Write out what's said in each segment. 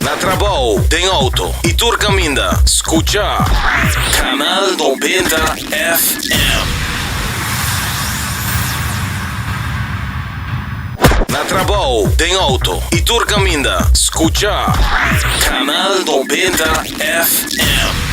Na trabou, den auto y tur caminda, scucha Canal Noventa FM. Na trabou, den auto y tur caminda, scucha Canal Noventa FM.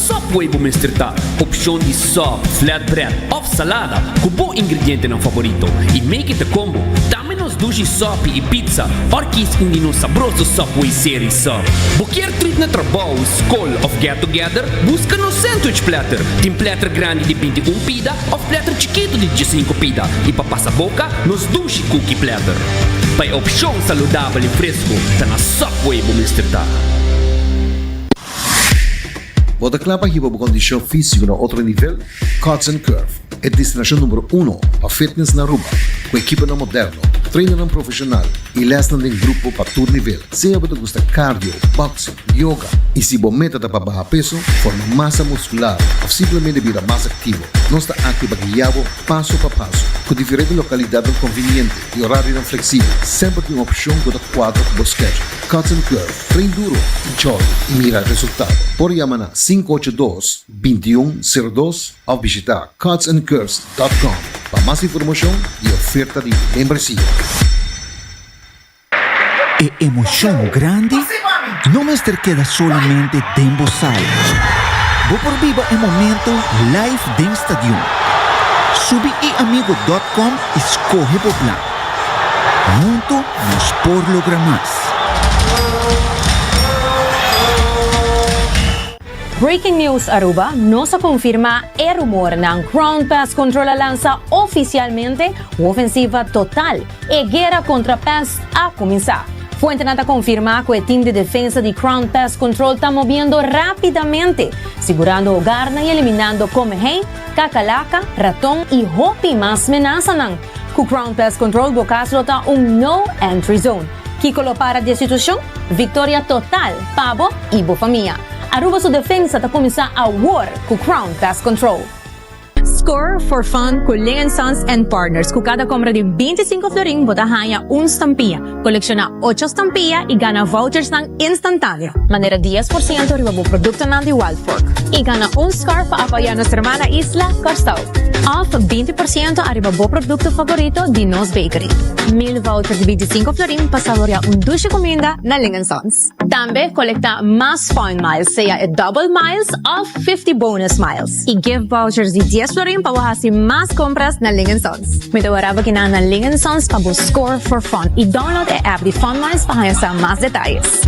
Subway bo mester ta opshon di sub, flatbread of salada ku bo ingredientenan faborito i make it a combo. Tambe nos dushi sopi i pizza or kies un di nos sabroso Subway serie sub. Bo kier trip na trabou, skol of get together? Buska nos sandwich platter. Tin platter grandi di binti un pida of platter chikitu di diesinco pida i pa pasa boka nos dushi cookie platter. Pa e opshon saludabel i fresku ta na Subway bo mester ta. Bo ta kla pa hiba bo kondishon físiko na otro nivel? Cuts and Curve, e destinashon numero uno pa fitness na Aruba, ku ekiponan moderno, trainarnan profeshonal i lèsnan den grupo pa tur nivel. Sea bo ta gusta cardio, boxing, yoga i si bo meta ta pa baha peso, forma masa muskular òf simplemente bira mas aktivo, nos ta aki pa guia bo paso pa paso ku diferente lokalidatnan konviniente. E orarionan fleksibel, semper tin un opshon ku ta kuadra ku bo skedjul. Cuts and Curve, Train duro i jordi i mira resultado. Por yama na sinku ocho dos, binti i un, sero dos òf bishitá cutsandcurves dòt kòm pa mas informashon i oferta di membresia. E emoshon grandi No mester keda solamente den bo sala. Bo por biba e momento live den stadion. Subi eamigo dot com i skohe bo plan. Huntu nos por logra mas. Breaking News Aruba, Nos a konfirmá e rumornan, Crown Pest Control a lansa ofisialmente ofensiva total. E guera kontra pès a kuminsá. Fuentenan ta konfirmá ku e tim di defensa di Crown Pest Control ta mobiendo rápidamente, sigurando hogarnan i eliminando komehei, kakalaka, raton i hopi mas menasanan. Ku Crown Pest Control bo kas lo ta un No Entry Zone. Kiko lo para di e situashon? Viktoria total pa bo i bo famia! Aruba su defensa ta kuminsá awor ku Crown Pest Control. Score for fun cu Lingen Sons and Partners. Cu cada compra di binti i sinku florin bo ta haña un stampia, colecciona ocho stampia i gana vouchersnan instantaneo. Manera dies por ciento riba bo productonan di Wild Fork i gana un score pa apoya nos hermana isla, Corsou. Of binti por ciento ariba bo producto favorito di nos bakery. Mil vouchers di binti i sinku florin pa saboria un dushi cuminda na Lingen Sons. Tambe kolektá mas Point Miles, sea e Double Miles òf Fifty Bonus Miles, i gift vouchers di dies florin pa bo hasi mas kompras na Lingen Sons. Mi ta wara pa kina na Lingen Sons pa bo score for fun i download e app di Fun Miles pa haña sa mas detayes.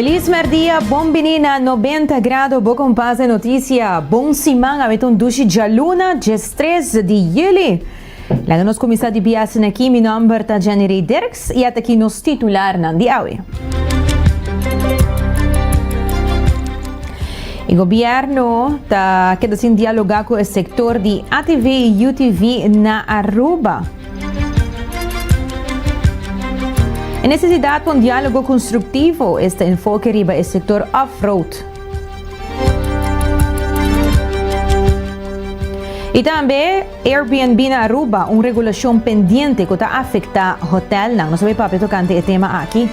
Feliz merdia, bon bini na Nobenta Grado, bo con pas e noticia. Bon siman, a mi ta un dushi djaluna, diestres di juli. Laga nos kuminsá di biasen aki, mi nòmber ta Jenirey Dirks i at aki nos titularnan di awe. E gobièrnu ta keda sin dialogá ku e sektor di atv i utv na Aruba. E nesesidat pa un diálogo konstruktivo esta enfoke riba e sektor off-road. I tambe Airbnb na Aruba, un regulashon pendiente ku ta afektá hotèlnan. Nos a bai papia tokante e tema aki.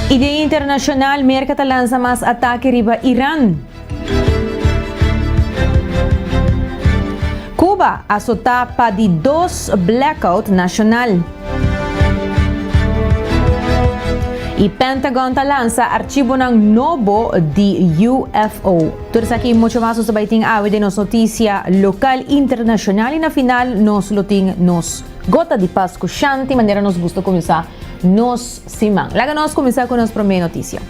I den internashonal, Merka ta lansa mas atake riba Iran. Kuba asotá pa di dos blackout nashonal. I Pentagon ta lansa archibonan nobo di UFO. Tur esaki i mucho mas nos ta bai tin awe den nos notisia lokal, internashonal i na final nos lo tin nos Gota di Pas ku Shanti manera nos gusta kuminsá nos siman. Laga nos kuminsá ku nos promé notisia.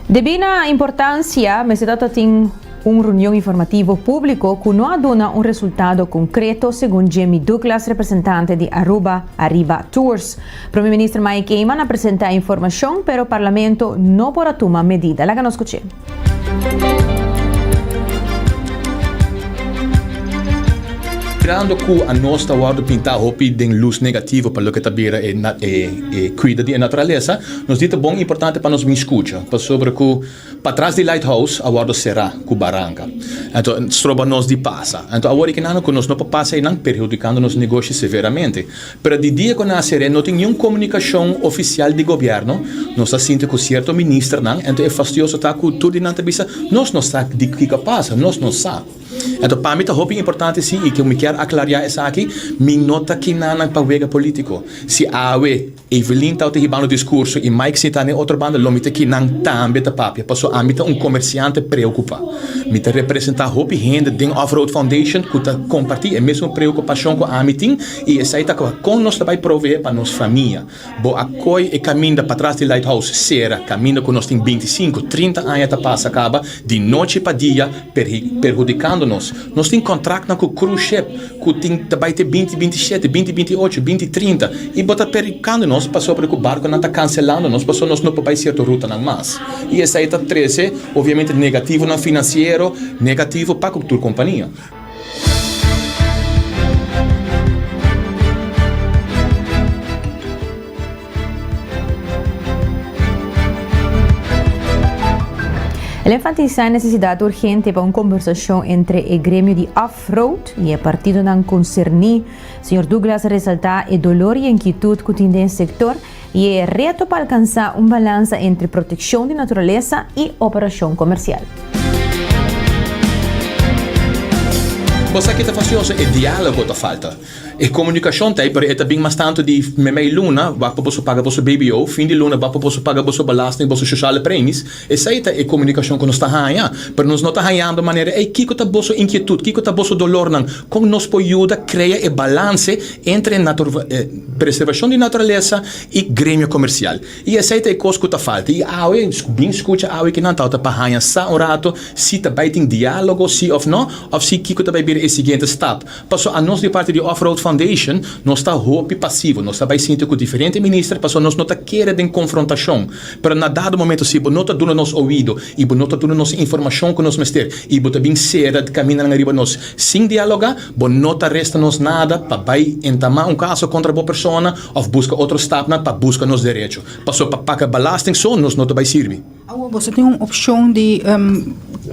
Debí na importansia mester ta ta tin un runion informativo públiko ku no a duna un resultado konkreto, segun Jemmy Douglas, representante di Aruba Arriba Tours. Prome Minister Mike Eman a presenta e informashon pero Parlamento no por a tuma medida. Laga nos kuch'é. Mirando ku anos ta wòrdu pintá hopi den lus negativo pa loke ta bira e kuida di e naturalesa, nos di ta bon i importante pa nos bin skucha pasobra ku patras di Lighthouse a wòrdu será ku baranka. Anto stroba nos di pasa. Anto awor i kinanku ku nos no por pasa einan perhudikando nos negoshi severamente. Pero di dia cu nan a seré no tin niun comunicacion oficial di gobierno. Nos ta sinti cu cierto ministernan, ento e fastioso ta cu tur di nan ta bisa, Nos no sa di kico a pasa, nos no sa. Ento pa mi ta hopi importante si y cu mi kier aclaria esaki, mi no ta kina nan pa wega politico. Si awe Evelyn tawata hibando discurso y Mike sinta n'e otro banda, lo mi ta kinan tambe ta papia, paso ami ta un comerciante preocupa. Mi ta representa hopi hende den Off Road Foundation cu ta comparti e mesmo preocupacion cu ami tin, I esei ta kos kon nos ta bai proveé pa nos famia. Bo a koi e kaminda patras di Lighthouse sera, kaminda ku nos tin bintisinku, trinta aña ta pasa kaba di nochi pa dia perhudikando nos. Nos tin kontraknan ku cruise ship ku tin ta bai te binti binti shete, binti binti ocho, binti trinta i bo ta perhudikando nos pasobra ku barkunan ta kanselando nos pasobra nos no por bai sierto rutanan mas. I esei ta trese, obviamente, negativonan finansiero negativo pa tur kompania. El enfatisa e nesesidat urgente pa un kombersashon entre e gremio di off-road i e partidonan konserní. Señor Douglas resaltá e dolor i e inkietut ku tin den e sektor I e reto pa alkansá un balansa entre protekshon di naturalesa i operashon komersial. Bo sa ke ta fasi also? E diálogo ta falta. E komunikashon ta ei, pero e ta bin mas tantu di meimei luna wak pa boso paga boso BBO, fin di luna wak pa boso paga boso belasting, boso shoshale premis. Esei ta e komunikashon ku nos ta haña, pero nos no ta hañando manera ei. Kiko ta boso inkietut? Kiko ta boso dolornan? Kon nos por yuda krea e balanse entre preservashon di naturalesa i gremio komersial? I esei ta e kos ku ta falta. I awe, bin skucha awe kinan tabata pa haña sa un rato si ta bai tin diálogo si òf no, òf si kiko ta bai bira e siguiente stap. Paso a nos di parti di Off Road Foundation nos ta hopi pasivo, nos ta bai sinti cu diferente minister paso nos no ta kere den confrontacion, pero na dado momento si bo no ta duna nos oido y bo no ta duna nos informacion cu nos mester y bo ta bin cera caminanan riba nos sin dialoga, bo no ta resta nos nada pa bai entama un caso contra bo persona of busca otro stapnan pa busca nos derecho. Paso pa paga balasting so nos no ta bai sirbi. Awo boso tin un opshon di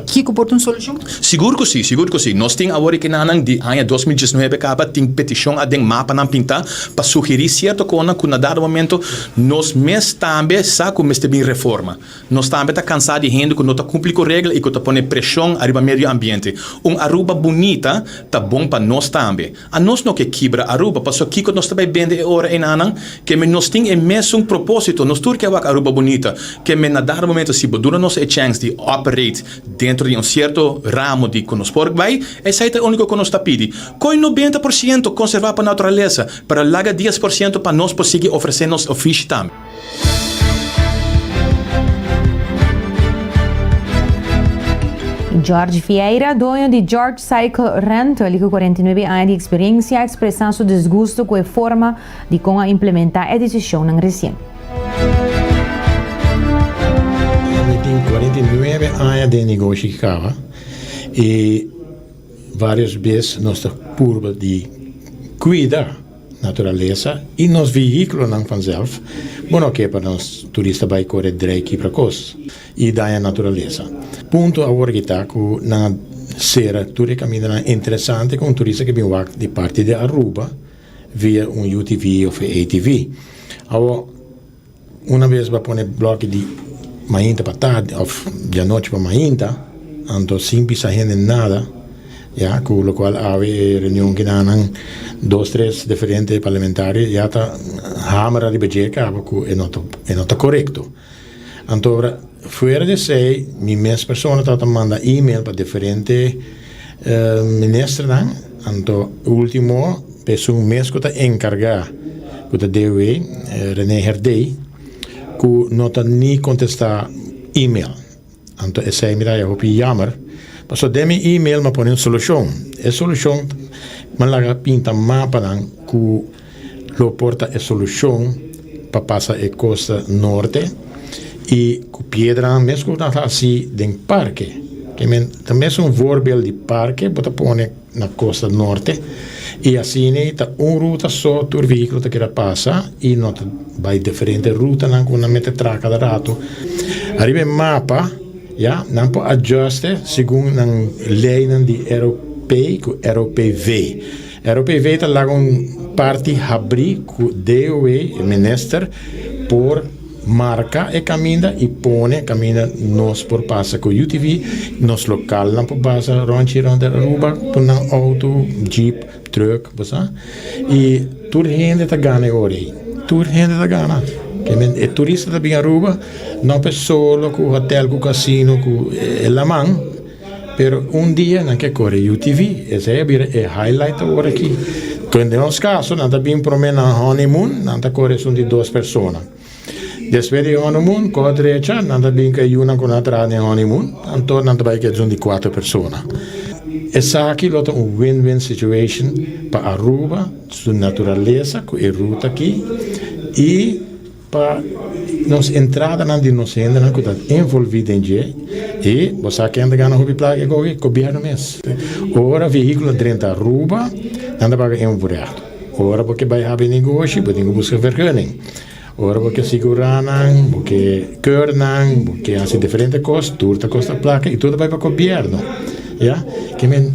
kiko por ta un solushon? Sigur ku si, sigur ku si. Nos tin awor e kenanan di aña dos mil diesnuebe kaba tin petishon aden mapanan pintá pa sugerí sierto konan ku na dado momento nos mes tambe sa ku mester bin reforma. Nos tambe ta kansá di hende ku no ta kumpli ku regla i ku ta pone preshon ariba medio ambiente. Un Aruba bunita ta bon pa nos tambe. A nos no ke kibra Aruba, pasobra kiko nos ta bai bende e ora enanan? Keme nos tin e mesun proposito, nos tur ke wak Aruba bunita. Keme na dado momento si bo duna nos e chèns di operate dentro di un sierto ramo di ku nos por bai, esei ta e uniko ku nos ta pidi. Koe nobenta por siento konservá pa naturalesa, pero laga dies por siento pa nos por sigui ofresé nos ofishi tambe. George Vieira, doño di George Cycle Rental y cu 49 aña di experiencia, expresa su disgusto cu e forma di con a implementa e decisionnan recien. Mi tin 49 aña den negoshi di cava y varios bes nos ta purba di cuida. Naturalesa y nos vehículonan vanzelf bo no ke pa nos turista bay core drei kipra kos y daña naturalesa. Punto awor ki ta cu nan a cera tur e camindanan interesante cu un turista ke bin wak di parti di Aruba via un UTV of ATV. Awor. Una bes bo a pone bloki di mainta pa tardi of di anochi pa mainta anto sin bisa hende nada ya ku lokual awe e reunion ki na nan dos tres diferente parlamentario ya ta hamera riba dje kaba ku e no e no ta korekto anto fuera di esei mi mes persona tabata manda email pa diferente. Ministernan, anto ultimo pesun mes ku ta enkargá ku ta debe, René Herdey, ku no ta ni kontestá email. Anto esei mi ta hopi yammer, pasobra den mi email mi a pone un solushon. E solushon mi a laga pinta mapa nan ku Lo por ta e solucion pa pasa e costa norte y cu piedranan mes como nan haci den parke, que men ta mes un voorbeeld di parke bo ta pone na costa norte y asina ta un ruta so tur vehiculo ta keda pasa y no ta bay diferente rutanan como nan mete traha cada rato. Ariba e mapa ya nan por adjuste segun nan leynan di ROP cu ROPV. ROPV ta laga un parti habrí ku DOW, e minister, por marka e kaminda i pone kaminda nos por pasa ku UTV. Nos lokalnan por pasa ròntji rònt di Aruba ku nan outo, jeep, trùk, bo sa. I tur hende ta gana e ora ei. Tur hende ta gana. E turista ta bin Aruba, no pe solo ku hòtèl ku kasino ku e laman. Pero un dia nan ke kore e UTV, esei a bira e highlight awor aki. Kon den nos kaso nan ta bin prome na un honeymoon, nan ta kore esun di dos persona. Despues di e honeymoon, kor drecha, nan ta bin ku e yunan ku nan a traha den honeymoon, anto nan ta bai ku esun di kuater persona. Esaki lo ta un win-win situation pa Aruba, su naturalesa ku e ruta aki, i. Pa nos entradanan di nos hendenan ku ta envolví den dje, e bo sa ken ta gana hopi plaka e kohe? Gobièrnu mes. Ora vehíkulo ta drenta Aruba, nan ta paga un vureha. Ora bo ke bai habri negoshi, bo tin ku buska vergunning. Ora bo ke sigurá nan, bo ke keur nan, bo ke hasi diferente kos, tur ta kosta plaka i tur ta bai pa gobièrnu. Ya. Ke men,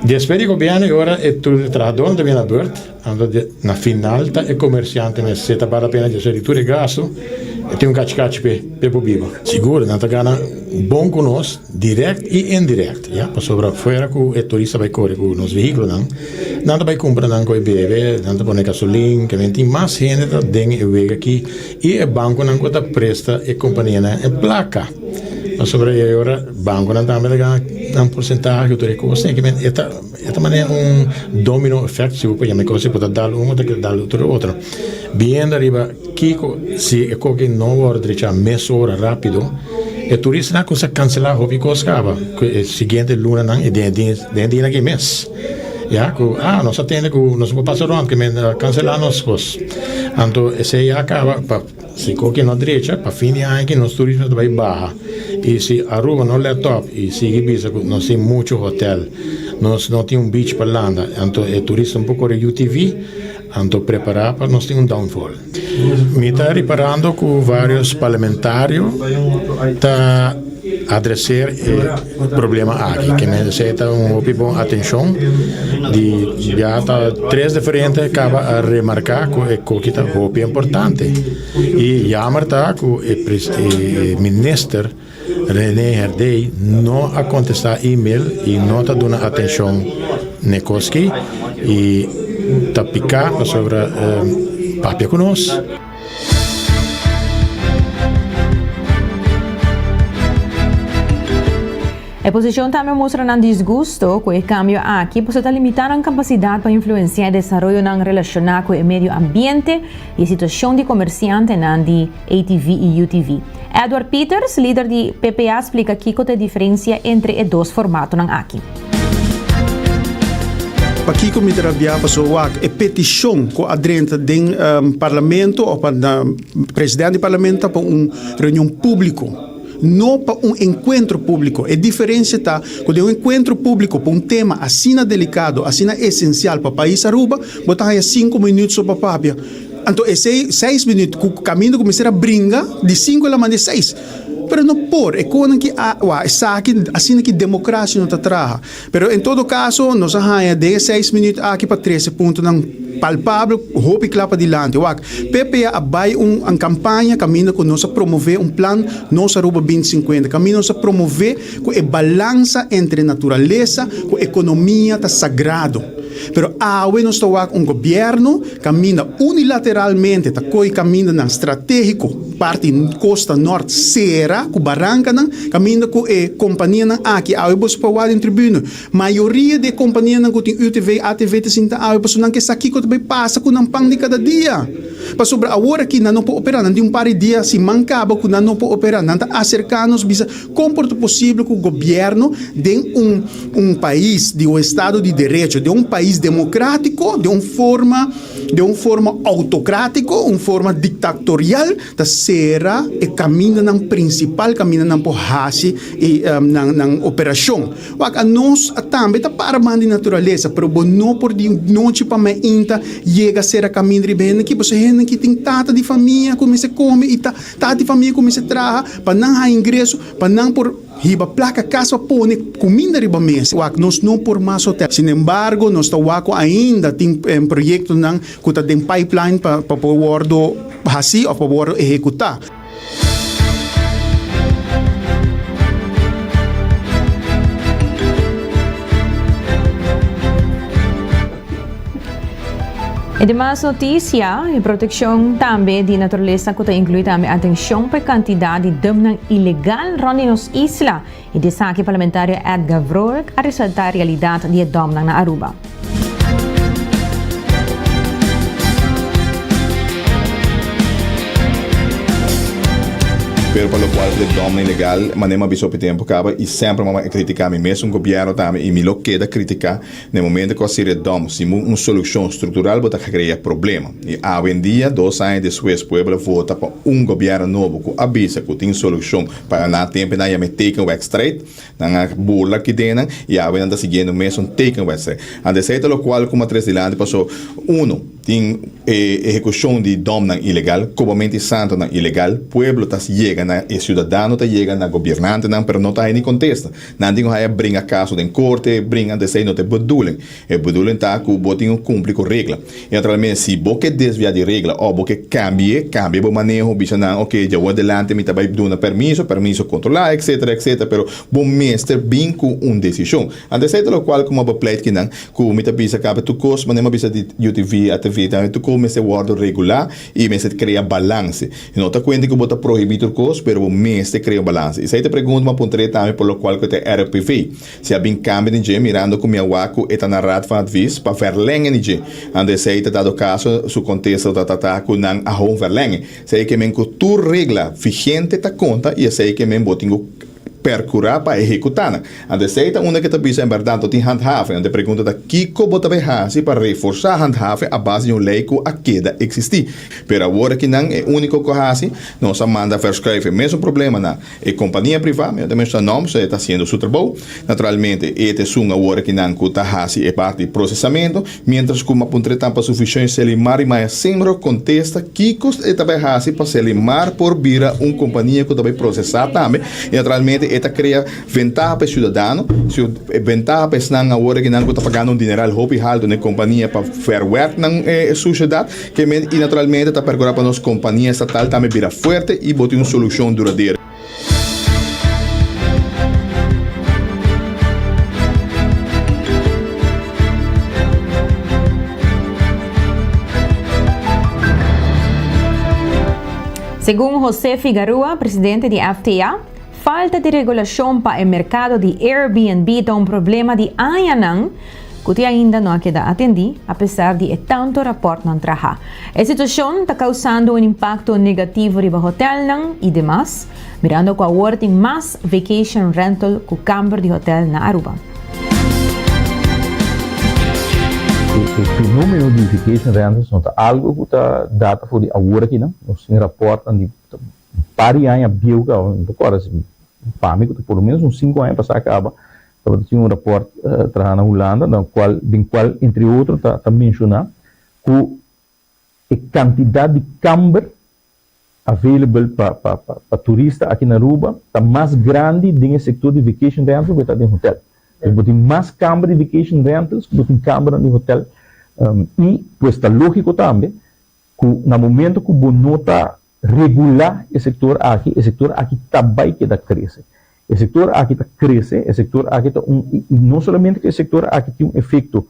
despues di gobièrnu e ora e tur di trahadónan ta bini na burt. Anto na final ta e comerciante mester ta bata pena djosha di tur e gasto, e tin un cachi cachi pe pe por biba. Sigur, nan ta gana bon cu nos direct y indirect, ya, pasobra fuera cu e turista bay core cu nos vehiculonan, nan ta bay cumpra nan cu e bebe, nan ta pone gasolin, también tin mas hende ta den e wega aki y e banconan cu ta presta e companianan e placa, pasobra e ora banconan tambe ta gana nan porcentahe cu tur e cos, e ta. E ta manera un domino effect si bo por yama e cosa y bo ta dal un y bo ta kere dal tur e otro biendo ariba kiko si e koki no worde drecha mesora rapido e turista nan cuminsa cancela hopi cos caba cu e siguiente lunanan y den e dia den e dianan ki mes ya cu a nos a tende cu nos no por pasa rond cu men a cancela nos cos anto esey ya a caba pa Si koki no drecha, pa fin di aña aki nos turismo ta bai baha. Y si Aruba no let op y sigui bisa cu nos tin mucho hotel, nos no tin un beach pa landa, anto e turista no por core UTV, anto prepara pa nos tin un downfall. Mi ta reparando cu varios parlamentario ta. adreser e problema aki ke men sey ta un hopi bon atenshon di ya ta tres diferente kaba a remarka ku e koki ta hopi importante i yamer ta ku e minister Rene Herdey no a kontestá email i no ta duna atenshon n'e koski i ta piká pasobra papia ku nos. E posicion tambe mustra nan disgusto cu e cambio aki paso ta limita nan capacidad pa influencia e desaroyonan relaciona cu e medio ambiente y e situacion di comerciantenan di ATV y UTV. Edward Peters, lider di PPA splica kico ta e diferencia entre e dos formatonan aki. Pakiko mi ta rabia paso wak e petishon ku a drenta den parlamento o pa presidente di parlamento ta pa un reunion públiko no pa un enkuentro públiko e diferensia ta ku den un enkuentro públiko pa un tema asina delikado asina esensial pa pais Aruba bo ta haya sinku minüt so pa papia anto esei seis minüt ku kaminda ku mester a bringa di sinku di la manda di seis. Pero no por, e konan ki awa, esaki, asina ki demokrasia no ta traha. Pero en todo kaso, nos a haña den e seis minüt aki pa trese puntonan palpabel, hopi kla padilanti. Wak, PPA a bai un kampaña kaminda ku nos a promové un plan Nos Aruba Binti Sinkuenta, kaminda nos a promové ku e balansa entre naturalesa ku ekonomia ta sagrado. Pero awe nos ta wak un gobièrnu. Kaminda unilateralmente ta koy kamindanan stratégiko parti kosta nòrt sera ku barankanan, kaminda ku e kompanianan aki awe boso pa wak den tribune. Mayoria di e kompanianan ku tin UTV i ATV ta sinta awe pasobra nan ke sa kiko ta bay pasa ku nan pan di kada dia. Pasobra awor aki nan no por opera, nan tin un par di dia siman kaba ku nan no por opera, nan ta aserká nos bisa. Kon por ta posible ku gobièrnu den un un pais di un estado di derecho, den un pais demokratiko, den un forma den un forma outokratiko, un forma diktatorial ta sera e kamindanan prinsipal kamindanan por hasi e nan nan operashon? Wak anos a tambe ta para man di naturalesa pero bo no por di nochi pa mainta yega sera kaminda riba hende aki, pasobra hende aki tin tata di famia ku mester kome i ta Tati famia kuminsá traha pa nan haña ingreso pa nan por hiba plaka kas pa pone kuminda riba mes. Wak nos no por mas hotèl. Sinembargo, nos ta wak ku ainda tin proyektonan ku ta den pipeline pa por wòrdu hasí òf pa wòrdu ehekutá. E demas notisia, e protekshon tambe di naturalesa ku ta inkluí tambe atenshon pa e kantidat di dëmnan ilegal rònt di nos isla, i di esaki parlamentario Edgar Vrolijk a resaltá e realidat di e dòmnan na Aruba. Pero pa lokual di e dòmnan ilegal, mané mi a bisa hopi tempu kaba i semper mi a kritiká mi mes un gobièrnu tambe i mi lo keda kritiká, Na e momento cu a siria dom sin bo un solucion structural bo ta crea problema. Y awendia, dos aña despues, pueblo a vota pa un gobierno nobo cu a bisa cu tin solucion para nan tempo y nan ya me teken wedstrijd. Nan a burla aki den nan y awe nan ta siguiendo mesun teken wedstrijd. Ante esey ta locual cu matres dilanti paso, uno, tin e ehecucion di domnan ilegal, cobamento y santonan ilegal. Pueblo ta yega na e ciudadano ta yega na gobiernantenan pero no ta hay ni contesta. Nan tin ku haya bringa kaso den korte, bringa ante esei no ta e bedoeling. E bedoeling ta ku bo tin ku kumpli ku regla. I naturalmente si bo ke desviá di regla òf bo ke kambie, kambie bo maneho, bisa nan, ok, dja wòrdu adelante mi ta bai duna permiso, permiso kontrolá, etsetera, etsetera, pero bo mester bin ku un desishon. Ante esei ta lokual ku mi a bai pleit kinan ku mi ta bisa kape tur kos, manera mi a bisa di UTV, ATV, ta tokó mester wòrdu regulá I mester krea balanse. I no ta kuente ku bo ta prohibí tur kos, pero bo mester krea un balanse. Esei ta pregunta mi a puntr'é tambe por lokual ku e ta RPV. Si a bin kambia di dje, mirando ku mi a wak ku e ta na Raad van Advies pa vèrlèngen di dje. Ando esei ta dado kaso, su kontesta ta tratá ku nan a hou un vèrlèngen. Esei ke men ku tur regla vigente ta konta i esei ke men bo tin ku. percura pa ehecuta nan. Ante esey ta unda ke ta bisa en berdad no tin handhaving. Ante e pregunta ta kico bo ta bay haci pa reforsa handhaving a base di un ley cu a keda existi. Pero awor ki nan e unico cu a haci, nos a manda verschuive e mesun problema na e compania priva, mi no ta menciona nom, so e ta haciendo su trabou. Naturalmente e ta esun awor ki nan cu ta haci e parti di procesamento. Mientras cu Mapuntre tampa su vision Selimar y Maya Simro contesta kico e ta bay haci pa Selimar por bira un compania cu ta bay procesa tambe y naturalmente e ta crea ventaha pa e ciudadano, ventaha pa esnan awor kinan cu ta pagando un dineral hopi halto na e compania pa verwerknan e suciedad que men y naturalmente ta percura pa nos compania estatal tambe bira fuerte y bo tin un solucion duradero. Segun Jose Figarua, presidente di FTA, falta di regulashon pa e merkado di Airbnb ta un problema di añanan, ku te ainda no a keda atendí, apesar di e tantu rapòrt nan traha. E situashon ta kausando un impakto negativo riba hotèlnan i demas, mirando ku awor tin mas vacation rental ku kamber di hotèl na Aruba. E fenómeno di vacation rentals no ta algu ku ta data for di awor aki no. Nos tin rapòrtnan di un par di aña bieu kabanan. Mi ta kòrda si mi pami ku ta por lo ménos un sinku aña pasá kaba, Tabata tin un raport traha na Hulanda na cual den cual entre otro ta ta menciona cu e cantidad di camber available pa pa pa turista aki na Aruba ta mas grandi den e sector di vacation rental cu e ta den hotel. Bo tin mas camber di vacation rentals cu bo tin cambernan di hotel y pues ta logico tambe cu na momento cu bo no ta Regulá e sektor aki, e sektor aki ta bai keda krese. E sektor aki ta krese, e sektor aki ta un, i no solamente ku e sektor aki tin un efekto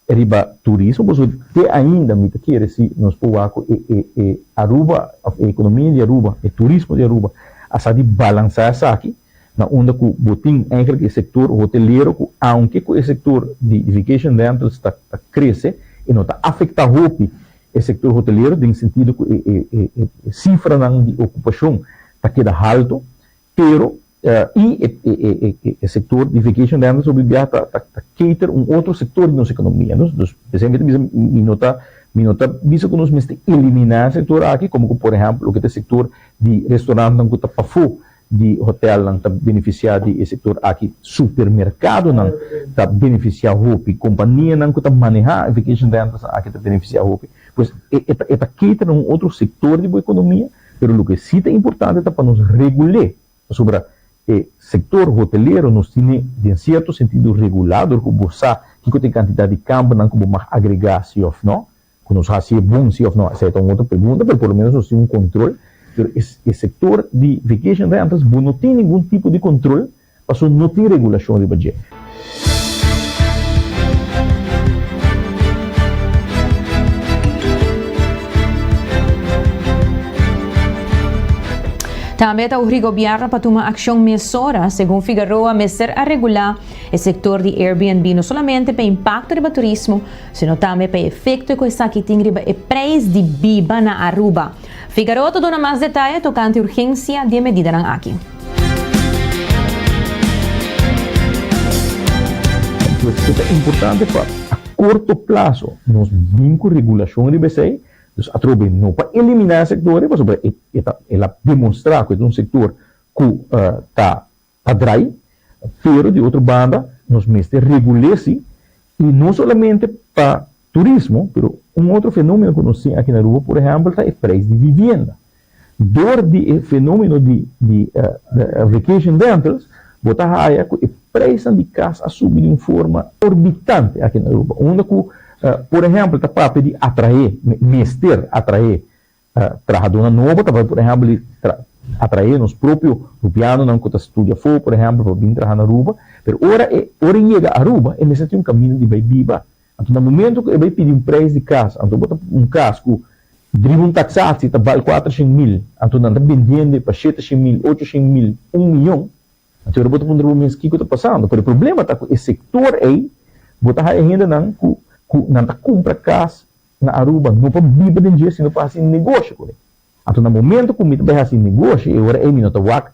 riba turismo, por eso te ainda mi ta kere si nos por wak ku e e e Aruba òf e ekonomia di Aruba, e turismo di Aruba a sa di balansá esaki na unda ku bo tin eigentlik e sektor hotelero ku aunke ku e sektor di vacation rentals ta krese e no ta afektá hopi E sektor hotelero den sentido ku e sifranan di okupashon ta keda haltu, pero i e sektor di vacation rentals hopi bia ta cater un otro sektor di nos ekonomia. Dus esei mi ta bisa mi no ta mi no ta bisa ku nos mester eliminá e sektor aki, komo ku por ehèmpel loke ta e sektor di restorantnan ku ta pafó di hotelnan ta benefisiá di e sektor aki. Supermerkadonan ta benefisiá hopi. Kompanianan ku ta manehá e vacation rentalsnan aki ta benefisiá hopi. Pues e e ta cater na un otro sektor di bo ekonomia, pero loke si ta importante ta pa nos regul'é pasobra e sektor hotelero nos tin'é den sierto sentido regulá dor ku bo sa kiko ta e kantidat di kambernan ku bo mag agregá si òf nò. Cu nos haci e bon si of no? Esa e ta un otro pregunta, pero por lo menos nos tin un control. Pero e sector di vacation rentals bo no tin ningun tipo di control pasobra no tin regulacion riba dje. Tambe ta uri Gobierno pa tuma accion mesora. Segun Figueroa mester a regula e sector di Airbnb no solamente pa impacto riba turismo, sino tambe pa e efekto ku esaki tin riba e preis di biba na Aruba. Figaro ta duna mas detaye tokante urgensia di e medidanan aki. Pues e ta importante pa a korto plaso nos bin ku regulashon riba esei, dus atrobe no pa eliminá e sektor ei pasobra e ta el a demonstrá ku e ta un sektor ku ta ta drai, pero di otro banda nos mester regul'é si, i no solamente pa turismo, pero un otro fenomeno ku nos tin aki na Aruba, por ehèmpel, ta e preis di vivienda. Dor di e fenomeno di di vacation rentals bo ta haya ku e preisnan di kas a subi di un forma orbitante aki na Aruba, unda ku, por ehèmpel, ta papia di atraé, mester atraé Trahadunan nobo ta bai por ehèmpel di atraé nos propio rupianonan ku ta studia afó, por ehèmpel, pa bin traha na Aruba. Pero ora e ora e yega Aruba e mester tin un kaminda di bai biba. Anto na momentu ku e bai pidi un preis di kas, anto bo ta un kas ku driba un taksaci ta bal kuater shen mil, anto nan ta bendende pa shete shen mil, ocho shen mil, un miyon, Anto ahora bo ta puntra bo mes kiko ta pasando. Pero e problema ta ku e sektor ei bo ta haya hendenan ku ku nan ta kumpra kas na Aruba no pa biba den dje sino pa hasi negoshi kuné. Anto na momento ku mi ta bai hasi negoshi e ora ei mi no ta wak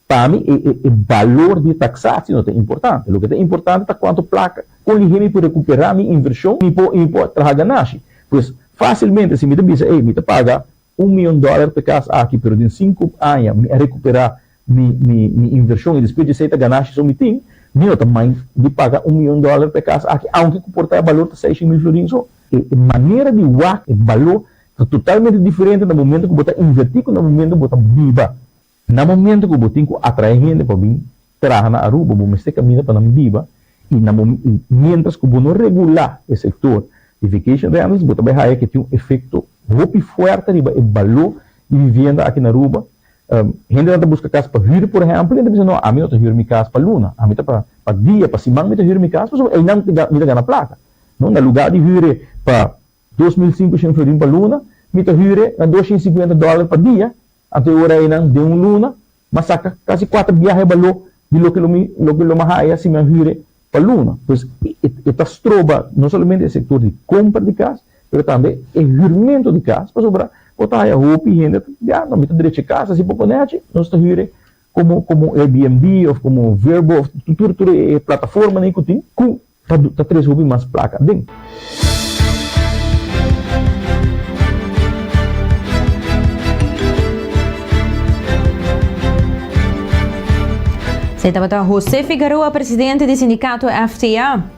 pa mi e e e balor di taksasio no ta importante. Loke ta importante ta kuantu plaka kon lihe mi por rekuperá mi invershon i mi por traha ganashi. Pues fásilmente si mi ta bisa ey mi ta paga Un mion dòler p'e kas aki, pero den sinku aña mi a rekuperá mi mi invershon i despues dj'esei ta ganashi so mi tin, mi no ta mind di paga un mion dòler p'e kas aki, aunke ku por ta e balor ta seishen mil florin so. E manera di wak e baló ta totalmente diferente na momentu ku bo ta invertí ku na momentu ku bo ta biba. Na momento cu bo tin cu atrae hende pa bin traha na Aruba, bo mester caminda pa nan biba y na momen y mientras cu bo no regula e sector di vacation rentals, bo ta bay haya cu tin un efecto hopi fuerte riba e balo di vivienda aki na Aruba. Hendenan ta busca cas pa hür, por ehempel, y nan ta bisa, No, ami no ta hür mi cas pa luna, ami ta pa dia, pa siman mi ta hür mi cas, pasobra einan mi ta gana placa. No, na lugar di hür'e pa dos mil sinku shin florin pa luna, mi ta hür'e na dos shin cincuenta dollar pa dia, A te ora einan den un luna m'a saka kasi kuater biahe baló di loke lo mi loke lo m'a haya si mi a hüre pa luna. Pues e e ta stroba no solamente e sektor di kompra di kas pero tambe e hürmento di kas pasobra por ta haya hopi hende ta di a no mi ta drechi e kas a si pokonechi nos ta hüre como como Airbnb of como Vrbo of tur tur e plataforma nan cu tin cu ta ta tres hopi mas placa aden. Esei tabata José Figueroa, presidente di sindicato FTA.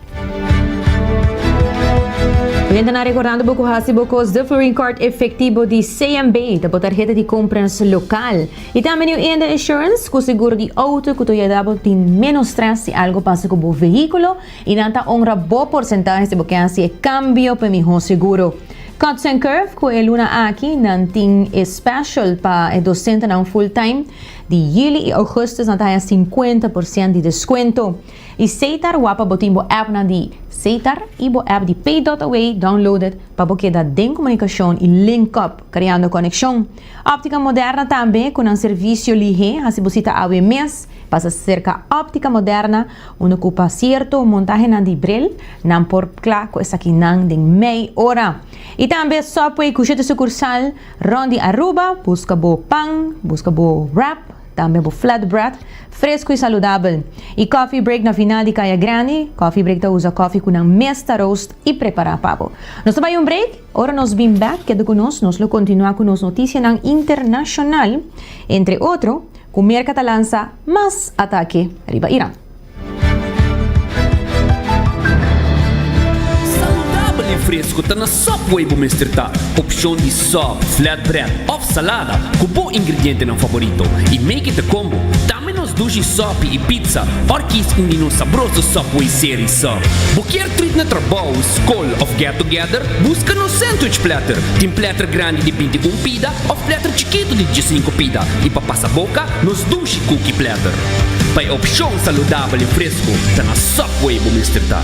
Bien ta na recordando bo cu haci bo cos de Florine Card Efectivo di CMB ta bo tarheta di compras local. Y tambe New Eender Insurance cu seguro di auto cu ta yuda bo tin menos stress si algo pasa cu bo vehiculo y nan ta honra bo porcentahe si bo ke haci e cambio pa e miho seguro. Cuts and Curve cu e luna aki nan tin e special pa e docentenan full-time. Di Yuli y Augustus nan ta haya cincuenta por cient di descuento. E Seitar wap pa bo tin bo appnan di Seitar y bo app di Pay Dot Away downloaded pa bo keda den comunicacion y link up creando coneccion. Optica Moderna tambe cu nan servicio lihe haci bo cita awe mes. Pasa cerca Optica Moderna unda cu pa cierto montahenan di Brel nan por cla cu esakinan den mei ora. Y tambe Subway cu shete sucursal rond di Aruba, busca bo pan, busca bo wrap, Tambe bo flat bread, fresku i saludabel. I coffee break na final di Kaya Grandi, Coffee Break ta usa koffie ku nan mes ta roast i prepara pa bo. Nos ta bai un break, ora nos bin bek keda ku nos, nos lo kontinua ku nos notisianan internashonal, entre otro ku Merka ta lansa mas atake riba Iran. Saludabel i fresku ta na Subway bo mester ta opshon di sub, flatbread òf salada ku bo ingredientenan faborito i make it a combo. Tambe nos dushi sòpi i pizza òr kies un di nos sabroso Subway serie sub. Bo kier trit na trabou, skol òf get together? Buska nos sandwich platter. Tin platter grandi di binti un pida òf platter chikitu di diesinku pida i pa pasa boka nos dushi kuki platter. Pa e opshon saludabel i fresku ta na Subway bo mester ta.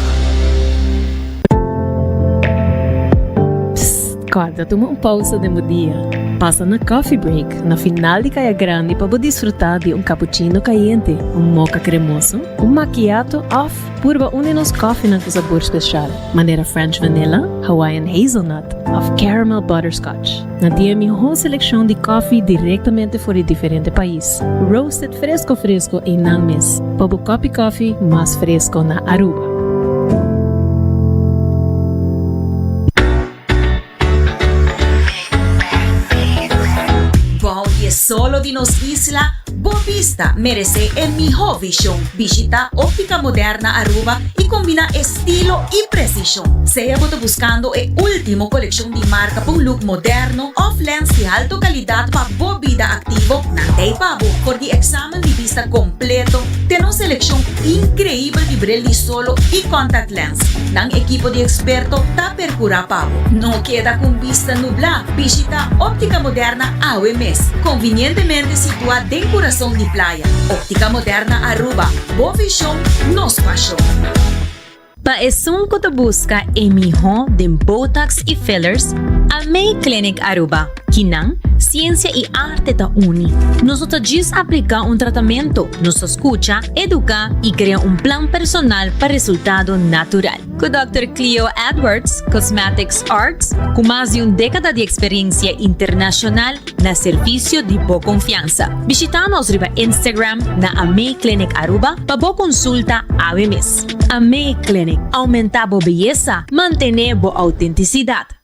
Psst kòrda tuma un pausa den bo dia. Pasa na Coffee Break na final di Kaya Grandi pa bo disfrutá di un kapuchino kayente, un moka kremoso, un makiato òf purba un di nos kòfinan ku sabor spesial, manera French Vanilla, Hawaiian Hazelnut òf Caramel Butterscotch. Na di e miho selekshon di kòfi direktamente for di diferente pais, roasted fresko fresko i nan mes, pa bo kòpi kòfi mas fresko na Aruba. Bou di e solo di nos isla. Bo bista meresé e mihó vishon. Bishitá Óptica Moderna Aruba i kombiná estilo i presishon. Sea bo ta buskando e último kolekshon di marka pa un luk moderno òf lèns di halto kalidat pa bo bida aktivo, nan t'ei pa bo for di eksamen di bista kompleto. Ten un selekshon inkreibel di bril di solo i kòntakt'lèns. Nan ekipo di eksperto ta. percura pa bo. No keda cu un bista nubla, bishita Optica Moderna awe mes, convinientemente situa den curason di playa. Optica Moderna Aruba, bo vision, nos pasion. Pa esun cu ta busca e miho den Botox y Fillers, Almay Clinic Aruba, kinan, ciencia y arte ta uni. Nos no ta djis aplica un tratamento, nos ta scucha, educa y crea un plan personal pa resultado natural. Ku Dòkter Cleo Edwards, Cosmetics Arts, ku mas di un dékada di eksperensia internashonal na servisio di bo konfiansa. Bishitá nos riba Instagram na Amé Clinic Aruba pa bo konsulta awe mes. Amé Clinic, Oumentá bo beyesa, mantené bo outentisidat.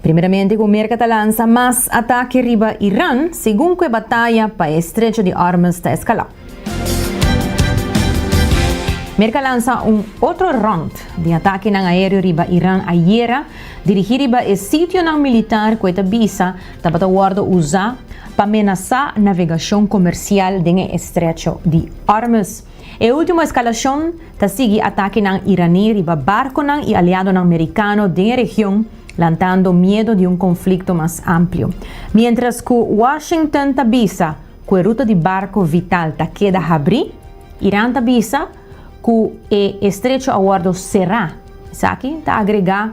Primeramente cu Merca ta lansa mas atake riba Iran segun cu e bataya pa e Estrecho di Ormuz ta escala. Merca lansa un otro rond di atakenan aereo riba Iran ayera, dirigi riba e sitionan militar cu e ta bisa tabata wordo uza pa menasa navegacion comercial den e Estrecho di Ormuz. E ultimo eskalashon ta sigui atakenan iraní riba barkonan i aliadonan merikano den e region, lantando miedo di un konflikto mas amplio. Miéntras ku Washington ta bisa ku e ruta di barko vital ta keda habrí, Iran ta bisa ku e estrecho a wòrdu será, esaki ta agregá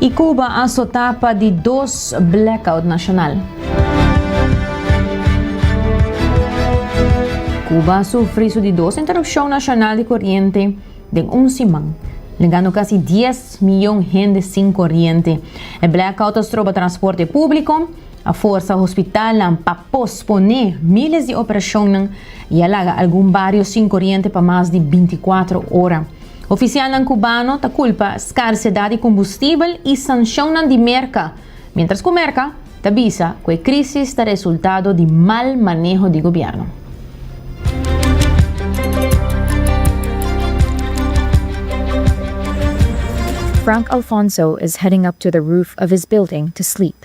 Y Cuba a sota pa di dos blackout nacional. Cuba a sufri su di dos interrupcion nacional di corriente den un siman, legando casi 10 miyon hende sin corriente. E blackout a stroba transporte publico, A forsa hospitalnan pa posponé míles di operashonnan i a laga algun bario sin koriente pa mas di binti kuater ora. Ofisialnan kubano ta kulpa skarsedat di kumbustibel i sanshonnan di Merka, miéntras ku Merka ta bisa ku e krísis ta resultado di mal maneho di gobièrnu. Frank Alfonso is heading up to the roof of his building to sleep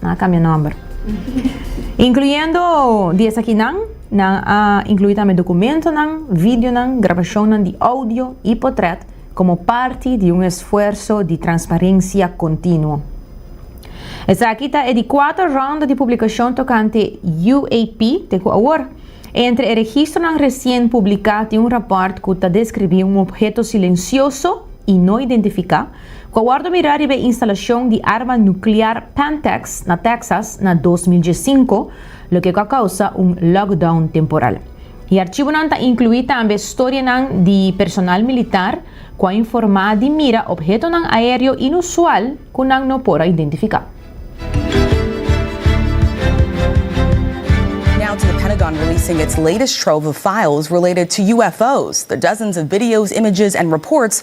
Nan a kambia nòmber. Inkluyendo di esakinan, nan a inkluí tambe dokumentonan, videonan, grabashonnan di oudio i potrèt komo parti di un esfuerso di transparensia kontinuo. Esaki ta e di kuater ronda di publikashon tokante UAP te ku awor. Entre e registronan resien publiká tin un rapòrt ku ta deskribí un obheto silensioso i no identifiká, Cu a wordo mira riba e instalacion di arma nuclear Pantex na Texas na dos mil diescinco, loke cu a causa un lockdown temporal. E archibonan ta inclui tambe storianan di personal militar cu a informa di mira obhetonan aereo inusual cu nan no por a identifica. Now to the Pentagon releasing its latest trove of files related to UFOs. The dozens of videos, images and reports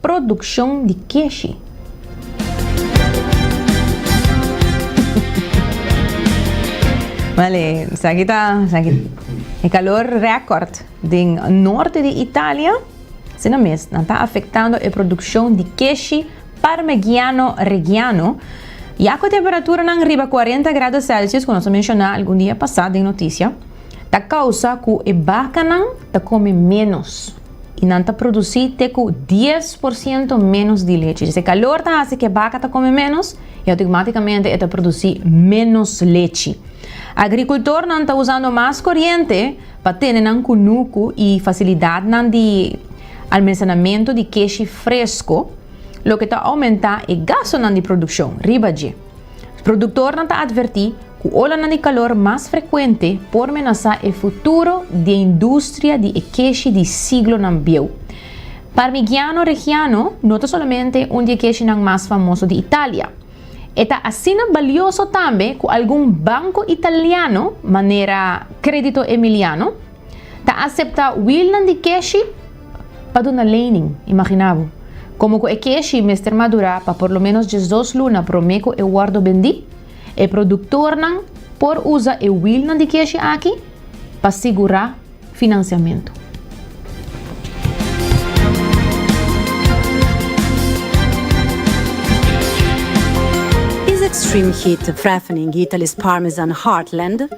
Produccion di Keshi. Vale, esaki ta e calor record den norte di Italia, asina mes nan ta afectando e produccion di keshi Parmegiano Reggiano ya cu temperaturanan riba cuarenta grado celsius cu nos a menciona algun dia pasa den noticia ta causa cu e bacanan ta come menos. y nan ta produci te cu dies por ciento menos di leche. Dje se calor ta haci que baca ta come menos y automaticamente e ta produci menos leche. Agricultornan ta usando mas coriente pa tene nan cunucu y facilidadnan di almencenamento di keshi fresco, loke ta aumenta e gastonan di produccion riba dje. Produktornan ta atvertí ku olanan di kalor mas frekuente por menasá e futuro di e industria di e keshi di siglonan bieu. Parmigiano Reggiano no ta solamente un di e keshinan mas famoso di Italia. E ta asina balioso tambe ku algun banko italiano, manera Credito Emiliano, Ta asepta wilnan di keshi pa duna lening, imagina bo. Komo ku e keshi mester madurá pa por lo ménos diesdos luna promé ku e wòrdu bendí, e produktornan por usa e wilnan di keshi aki pa sigurá finansiamentu. Is extreme heat threatening Italy's Parmesan heartland.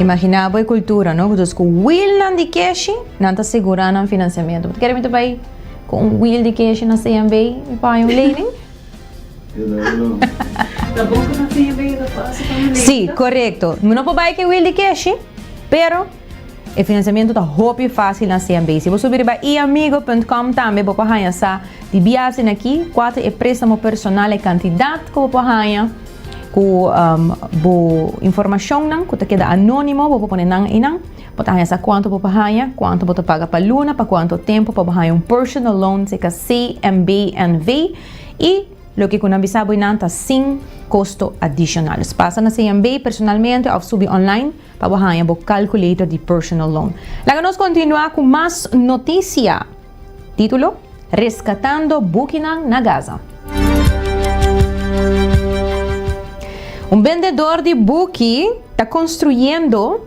Imaginá bo e kultura, no? Ku djos ku wilnan di keshi nan ta sigurá nan finansiamentu. Bo ta kere mi ta bai ku un wil di keshi na CNB mi paña un lening? Sí, korekto. Mi no por bai ku e wil di keshi, pero e finansiamentu ta hopi fásil na CMB. Si bo subi riba eamigo punt com tambe bo por haña sa di biasen na aki kua ta e préstamo personal, e kantidat ku bo por haña, ku bo informashonnan ku ta keda anónimo bo por pone nan einan. Bo ta haña sa kuantu bo por haña, kuantu bo ta paga pa luna, pa kuantu tempu pa bo haña un personal loan seka CMB, NV, i loke ku nan bisa bo einan ta sin kosto adishonal. Dus pasa na CMB personalmente òf subi online pa bo haña bo calculator di personal loan. Laga nos kontinuá ku mas notisia. Título, Reskatando bukinan na Gaza. Un bendedor di buki ta konstruyendo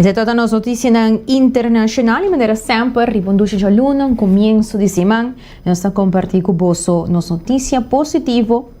Esei ta nos notisianan internashonal i manera semper riba un dushi djalunan, kumiensu di siman, nos ta komparti ku boso nos notisia positivo,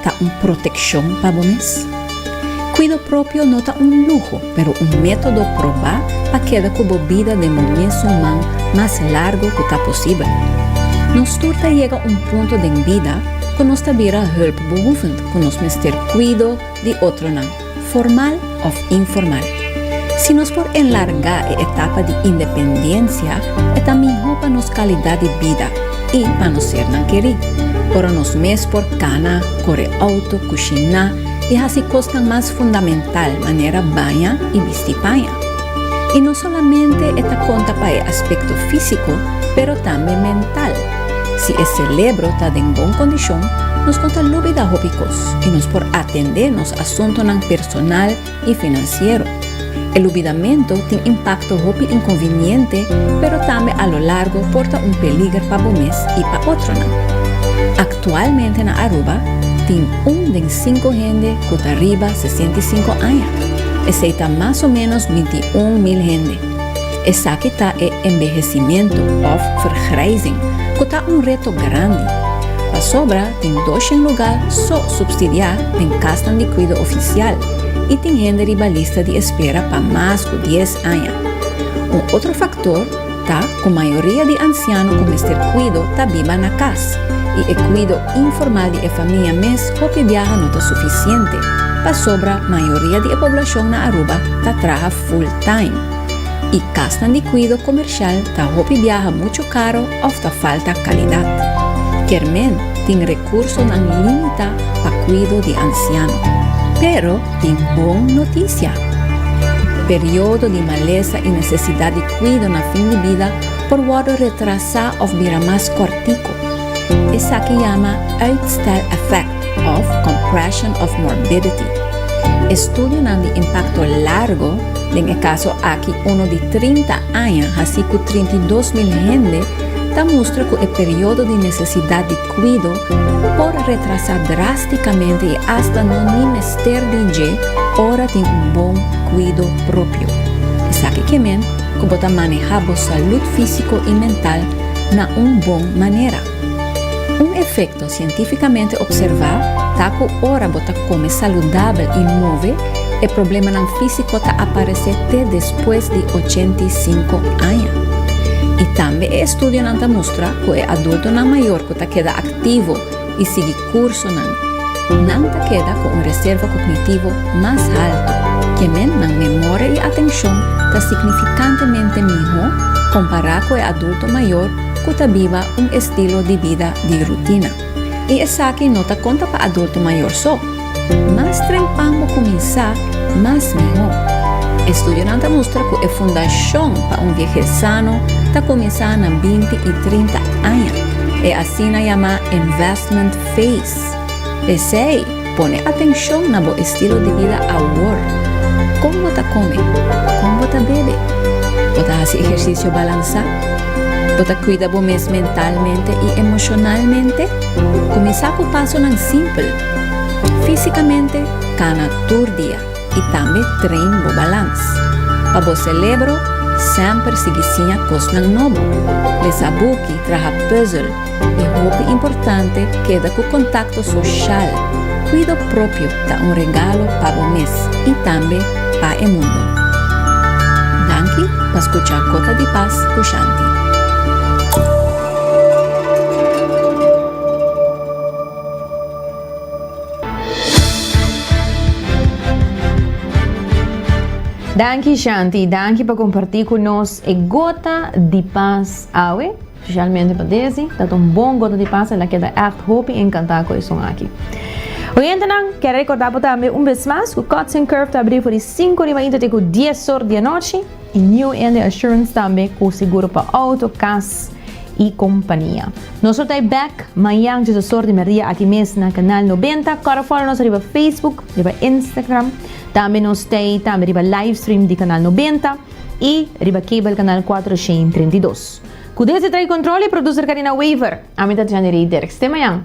Ta un protekshon pa bo mes? Kuido propio no ta un luho, pero un método probá pa keda ku bo bida den bo mesun man mas largu ku ta posibel. Nos tur ta yega un punto den bida ku nos ta bira hulpbehoevend, ku nos mester kuido di otronan. Formal òf informal. Si nos por enlargá e etapa di independensia, e ta mihó pa nos kalidat di bida i pa nos ser nan kerí. Ora nos mes por kana, kore outo, kushiná i hasi kosnan mas fundamental manera baña i bisti paña. I no solamente e ta konta pa e aspekto físiko, pero tambe mental. Si e celebro ta den bon condicion, nos no ta lubida hopi cos y nos por atende nos asuntonan personal y financiero. E lubidamento tin impacto hopi inconveniente, pero tambe a lo largo por ta un peliger pa bo mes y pa otronan. Actualmente na Aruba tin un den cinco hende cu ta riba sesenta y cinco aña, esey ta mas o menos binti un mil hende. Esaki ta e envehecimiento of vergrijzing cu ta un reto grandi, pasobra tin doshen lugar so substidia den casnan di cuido oficial y tin hende riba lista di espera pa mas cu dies aña. Un otro factor ta cu mayoria di anciano cu mester cuido ta biba na cas y e cuido informal di e famia mes hopi biaha no ta suficiente, pasobra mayoria di e poblacion na Aruba ta traha full-time. i kasnan di kuido komershal ta hopi biaha muchu karo òf ta falta kalidat. Kermén tin rekursonan limitá pa kuido di ansiano. Pero tin bon notisia. Periodo di malesa i nesesidat di kuido na fin di bida por wòrdu retrasá òf bira mas kòrtiku. Esaki yama uitstel-effect. òf compression of morbidity. Estudionan di impakto largo, den e kaso aki uno di trinta aña hasi ku trinta i dos mil hende, ta mustra ku e periodo di nesesidat di kuido por retrasá drástikamente i asta no ni mester di dje ora tin un bon kuido propio. Esaki ke men ku bo ta manehá bo salud físiko i mental na un bon manera. Un efekto sientífikamente opservá ta ku ora bo ta kome saludabel i move, e problemanan físiko ta aparesé te despues di ochenta i sinku aña. I tambe e estudionan ta mustra ku e adultonan mayor ku ta keda aktivo i sigui kursonan. Nan ta keda ku un reserva kognitivo mas haltu, kemen nan memoria i atenshon ta signifikantemente mihó kompará ku e adulto mayor ku ta biba un estilo di bida di rutina. I esaki no ta konta pa adulto mayor so. Mas trempan bo kuminsá, mas mihó. Estudionan ta mustra ku e fundashon pa un viejez sano ta kuminsá na binti i trinta aña. e asina yamá investment phase. P'esei, pone atenshon na bo estilo di bida awor. Kon bo ta kome? Kon bo ta bebe? Bo ta hasi ehersisio balansá? Bo ta kuida bo mes mentalmente i emoshonalmente? Kuminsá ku pasonan simpel. Físikamente kana tur dia. i tambe train bo balans. Pa bo celebro, semper sigui siña cosnan nobo, lesa buki, traha puzzel i hopi importante keda cu contacto social. Cuido propio ta un regalo pa bo mes i tambe pa e mundo. Danki pa scucha Gota di Paz cu Shanti. Danki Shanti, danki pa kompartí ku nos e gota di pas awe, spesialmente pa desi, dat un bon gota di pas, el a keda ègt hopi enkantá ku e son aki. Oyentenan, kèr rekordá bo tambe un bes mas ku Cuts and Curve ta abrí for di sinku riba inter te ku dies or di anochi. y New India Assurance tambe cu seguro pa auto, cas y compania. Nos lo ta e back mañan dje sasor di media aki mes na canal noventa. Cora follow nos riba Facebook, riba Instagram. Tambe nos ta e tambe riba live stream di canal noventa y riba cable canal cuatro shen treinta y dos. Cu desde trae control y producer Karina Wever, ami ta Janny Rey Derks. Te mañan.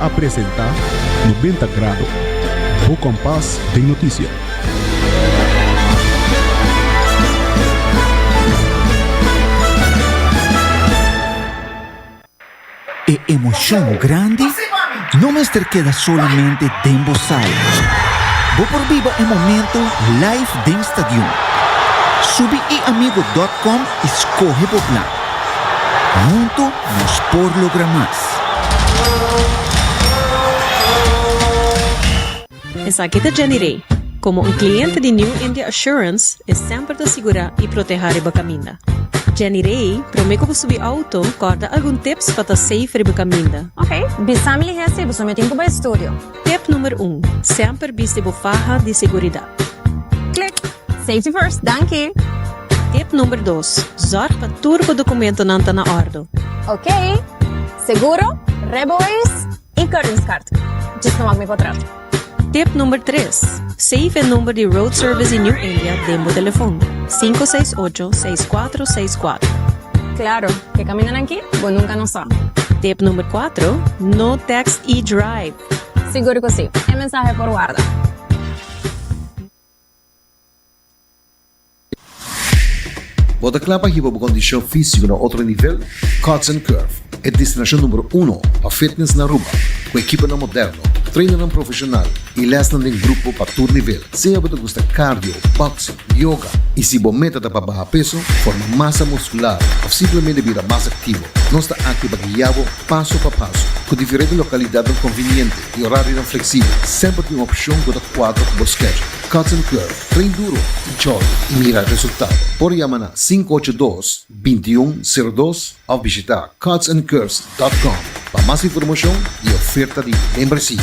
A presenta Noventa Grado, bo kompas den noticia. E emocion grandi no mester keda solamente den bo sala. Bo por biba e momento live den stadion. Subi eamigo.com i skohe bo plan. Hunto Nos por logra mas! Esaki ta Jenny Rey. Komo un kliente di New India Assurance, e semper ta sigurá i protehá riba kaminda. Jenny Rey, promé ku bo subi outo, kòrda algun tips pa ta safe riba kaminda. Ok, bisa mi lihé si bo sumio tin ku bo estudio. Tip numer un, Semper bisti bo faha di seguridat. Click! Safety first, danki! Tip numer dos, Zorg pa tur bo dokumentonan ta na ordo. Ok! Seguro, rijbewijs i kortingskaart. Djis no wak mi kontrato. Tip numer tres, Save e number di Road Service di New India den bo telefon, sinku seis ocho seis kuatro seis kuatro. Klaro! Ke kamindanan ki? Bo nunka no sa. Tip number kuatro, No text i drive. Sigur ku si. E mensahe por warda. Bo ta kla pa hiba bo kondishon físiko na otro nivel? Cuts and Curve, e destinashon numero uno pa fitness na Aruba, ku ekipanan moderno, trainannan profeshonal i lèsnan den grupo pa tur nivel. Sea bo ta gusta cardio, boxing, yoga y si bo meta ta pa baha peso, forma masa muscular of simplemente bira mas activo, nos ta aki pa guia bo paso pa paso. Cu diferente localidadnan conveniente y horarionan flexible, semper tin un opcion cu ta cuadra cu bo schedule. Cuts and Curve, train duro, enjoy y mira resultado. Por yama na sinku ocho dos, bintiun, sero dos of bishita cutsandcurves dot com pa mas informacion y oferta di membresia.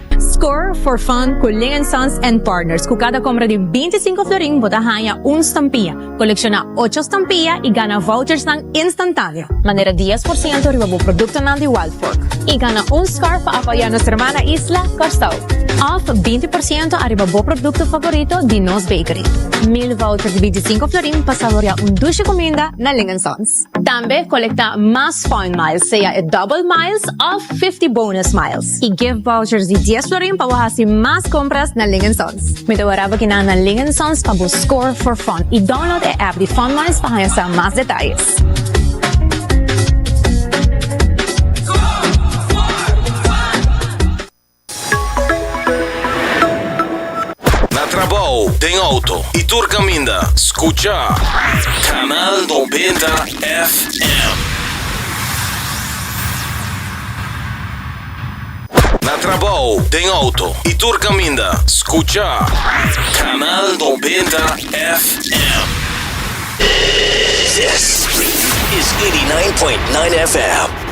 Score for fun cu Ling and Sons and Partners, cu cada compra di binti sinku florin bo ta haña un stampia, colecciona ocho stampia y gana vouchersnan instantaneo. Manera dies por ciento riba bo productonan di Wild Fork y gana un scarf pa apoya nos hermana isla, Curaçao, of binti por ciento ariba bo producto favorito di nos bakery. Mil vouchers di binti sinku florin pa saborea un dushi cuminda na Ling and Sons. Tambe kolektá mas Fun Miles, sea e Double Miles òf Fifty Bonus Miles, i gift vouchers di dies florin pa bo hasi mas kompras na Ling en Sons. Mi ta wara bo kina na Ling en Sons pa bo score for fun i download e app di Fun Miles pa haña sa mas detayes. Na trabou, den auto y tur caminda, scucha Canal Noventa FM. Na trabou, den auto y tur caminda, scucha Canal Noventa FM. This is 89.9 FM.